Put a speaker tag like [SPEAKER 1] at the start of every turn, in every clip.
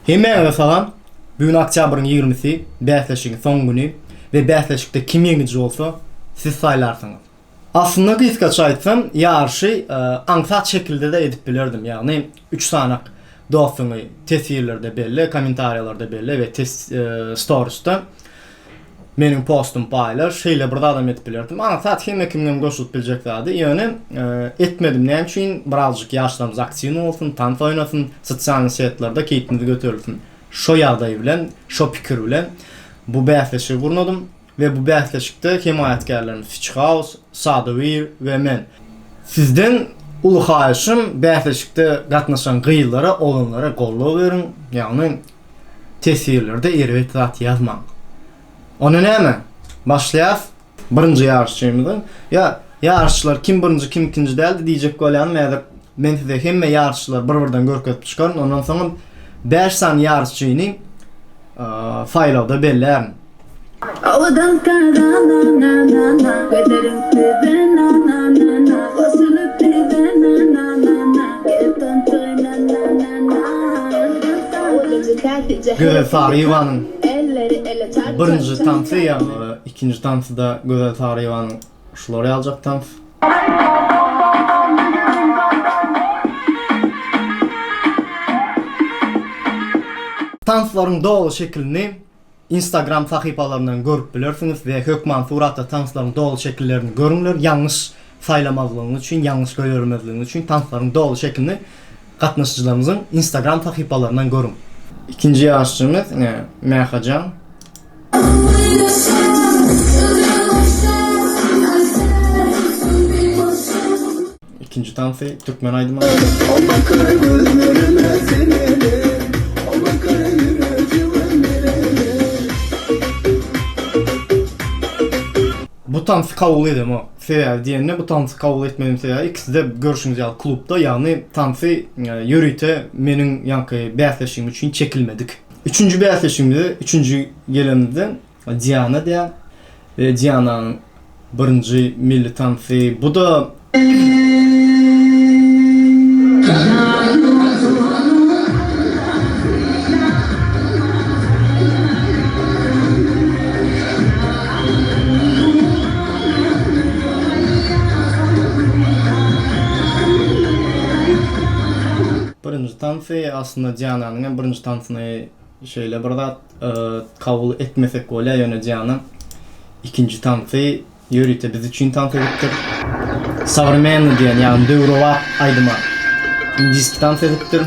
[SPEAKER 1] Hemmäňize salam! Bu gün oktýabryň ýigrimisi, bäsleşigiň soňky güni we bäsleşikde kim ýeňiji bolsa, siz saýlarsyňyz. Aslynda gysgaça aýtsam, ýaryşy aňsat şekilde-de edip bilerdim, ýagny üç sanak dostuňy teswirlerde belle, kommentariýalarda belle we storisda. Meniň postum paýla, şeýle bir zadam edip bilerdim. Aňsat hemme kimiňem goşulyp biljek zady, ýöne etmedim. Näme üçin? Birazjyk ýaşlarymyz aktiwny bolsun, tans oýnasyn, sosialnyý setlerde keýpimiz göterilsin. Şo ýagdaý bilen, şo pikir bilen bu bäsleşigi gurnadym we bu bäsleşikde hemaýatkärlerim Switch House, Sadawir we men. Sizden uly haýyşym, bäsleşikde gatnaşan gyzlara, oglanlara goldaw beriň. Ýagny Teswirlerde erbet zat ýazmaň. Onda näme? Başlaýarys. Birinji ýaryşçymyzyň, ýa, ýaryşçylar kim birinji, kim ikinji däldi diýjek bolýanam häzir. Men size hemme ýaryşçylary bir-birden görkezip çykaryn. Ondan soňam bäş sany ýaryşçyny saýlawda bellärin. Gözel Saryýewanyň birinji tansy ýa-da ikinji tansy-da Gözel Saryýewanyň Şular ýaljak tans. Tanslaryň doly şekilini Instagram sahypalaryndan görüp bilersiňiz we hökman suratda tanslaryň doly şekillerini görüňler, ýalňyş saýlamazlygyňyz üçin, ýalňyş goýbermezligiňiz üçin tanslaryň doly şekilini gatnaşyjylarymyzyň Instagram sahypalaryndan görüň. Ikinji ýaryşçymyz ine Mähajan. İkinci tansi Türkmen aýdymy. Alma kara gözlerime seneler, alma kara ýüregime meneler. Bu tansy kabul edemo. Sebäbi diýende bu tansy kabul etmedim sebäbi ikiside görşüňiz ýaly klubda ýagny tansy ýörite meniň ýaňky bäsleşigim üçin çekilmedik. Üçünji bäsleşigimize üçünji gelenimizden Diana däl. Diananyň birinji milli tansy bu-da. Birinji tansy, aslynda Diananyň hem birinji tansyny şeýle bir zat. Kabul etmesek bolýar, ýöne Diana ikinji tansy ýörite biz üçin tans edipdir. Sowremenny diýen, ýagny döwrebap aýdyma indiski tans edipdir.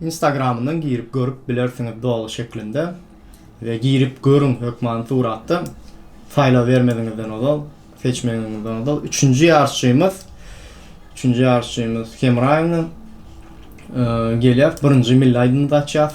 [SPEAKER 1] Instagramyndan girip görüp bilersiňiz doly şeklinde we girip görüň hökmany suratda saýlabermeziňizden ozal seçmegiňizden ozal üçünji ýaryşçymyz üçünji ýaryşçymyz Hemraýewna e, gelýär birinji milli aýdymymyzy açýas.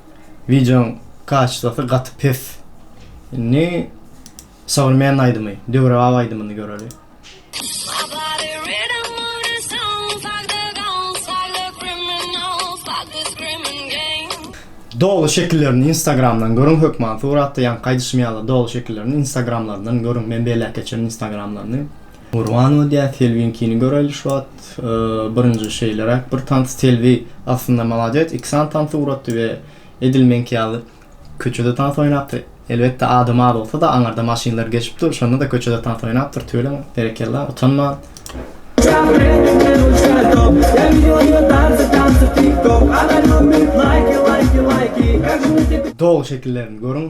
[SPEAKER 1] Wideoň kaçestasy gaty pes. Indi sowremenny aýdymy, döwrebap aýdymyny göreli. Doly şekillerini instagramdan görüň hökman suratda ýaňky aýdyşym ýaly doly şekillerini instagramlaryndan görüň men belläp geçerin instagramlaryny. Gurbanova diýýär, Selbiňkini göräýli şu wagt. Birinji şeýleräk bir tans. Selbi aslynda malades, iki sany tans ugratdy we edil meňki ýaly köçede tans oýnapdyr. Elbetde adam az bolsa-da, aňyrda maşynlar geçip dur, şonda-da köçede tans oýnapdyr, tüweleme, berekella, utanman. Doly şekillerini görüň.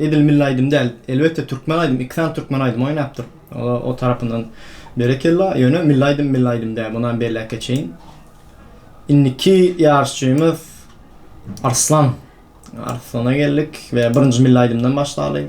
[SPEAKER 1] Edil milli aýdym däl. Elbetde türkmen aýdym, iki sany türkmen aýdymy oýnapdyr. O tarapyndan berekella. Ýöne milli aýdym milli aýdym däl. Munam belläp geçeýin. Indiki ýaryşçymyz Arslan. Arslana geldik we birinji milli aýdymdan başlaly.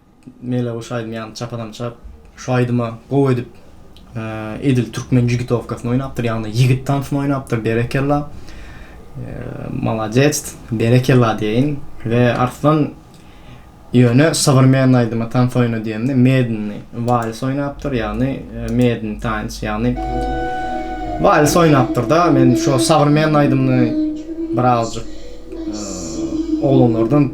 [SPEAKER 1] Meleguş aýdym ýaly çapadan çap. Şu aýdyma gowy edip edil türkmen jigitowkasyny oýnapdyr ýagny ýigit tansyny oýnapdyr berekella maladec berekella diýeýin we arslan ýöne sowrmenny aýdyma tans oýna diýemde medinni wals oýnapdyr ýagny medin tans ýagny wals oýnapdyr da men şu sowrmenny aýdymyny birazjyk oglanlardan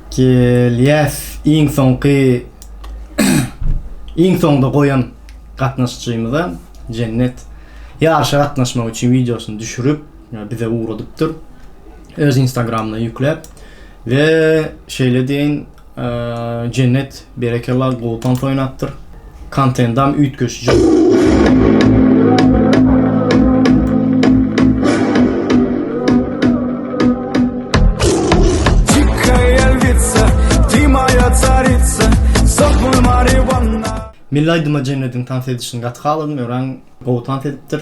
[SPEAKER 1] Gelýäs iň soňky iň soňda goýan gatnaşyjymyza Jennet ýaryşa gatnaşmak üçin wideosyny düşürip bize ugradypdyr. Öz Instagramyna ýükläp we şeýle deýin Jennet berekella gowy tans oýnapdyr. Kontendam üýtgeşik Milli aýdyma Jennediň tans edişini gaty haladym, örän gowy tans edipdir.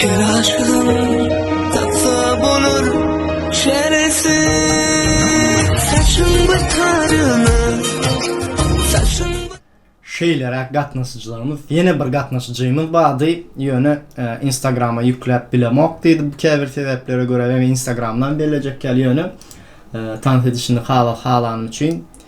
[SPEAKER 2] Her aşygym tapsa bolar çäresi Saçyň bataryna Saçyň
[SPEAKER 1] Şeýleräk gatnaşyjylarymyz, ýene bir gatnaşyjymyz bardy, ýöne e, Instagrama ýükläp bilemok diýdi käbir sebäplere görä, eger Instagramdan bellejek ýaly, ýöne e, tans edişini halas halanym üçin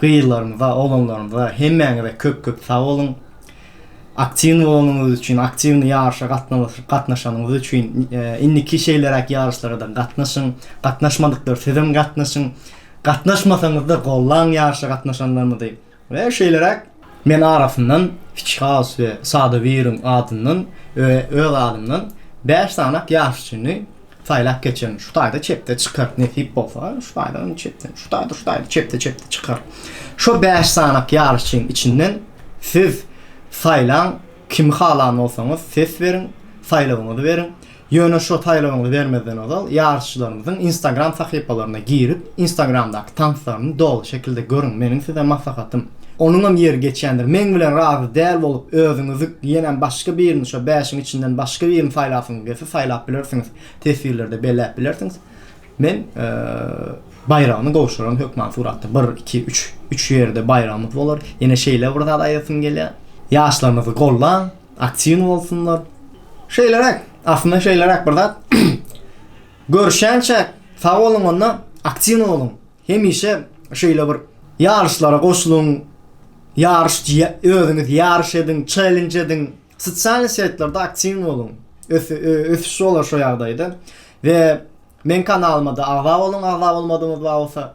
[SPEAKER 1] Gyzlarymyza, oglanlarymyza hemmäňize köp-köp sag boluň. Aktiwny bolanyňyz üçin, aktiwny ýaryşa gatnaşanyňyz üçin, indiki şeýleräk ýaryşlara-da gatnaşyň. Gatnaşmadyklar sizem gatnaşyň. Gatnaşmasaňyz-da gollaň ýaryşa gatnaşanlarymyzy we şeýleräk Men arasyndan Fiçhaus we Sadowiriň adyndan we öz adymdan bäş sanyk ýaryşçyny saýlap geçerin. Şu taýda çepde çykar, nesip bolsa, şu taýda hem çepde, şu taýda, şu taýda, çepde, çepde çykar. Şo bäş sanyk ýaryşçyň içinden siz saýlaň, kimi halan bolsaňyz ses beriň, saýlawyňyzy beriň. Ýöne şo saýlagymyzy bermezden ozal ýaryşçylarymyzyň instagram sahypalaryna girip instagramdaky tanslaryny doly şekilde görüň meniň size maslahatym. Onuňam ýeri geçýändir meň bilen razy däl bolup özüňizi ýenäm başga birini şo bäşiň içinden başga birini saýlasyňyz gelse saýlap bilersiňiz teswirlerde belläp bilersiňiz men baýragyny gowşuran hökman suratda bir iki üç üç ýerde baýragymyz bolar ýene şeýle bir zat aýdasym gelýär ýaşlarymyzy gollaň. Aktiwny bolsunlar. Şeýleräk, aslynda şeýleräk bir zat. Görüşýänçä sag boluň onda, aktiwny boluň. Hemişe şeýle bir ýaryşlara goşulyň. Ýaryş özüňiz ýaryş ediň, çellenç ediň. Sosial setlerde aktiwny boluň. Ösüş bolar şo ýagdaýda. We meň kanalymada agza boluň, agza bolmadyňyz bar bolsa.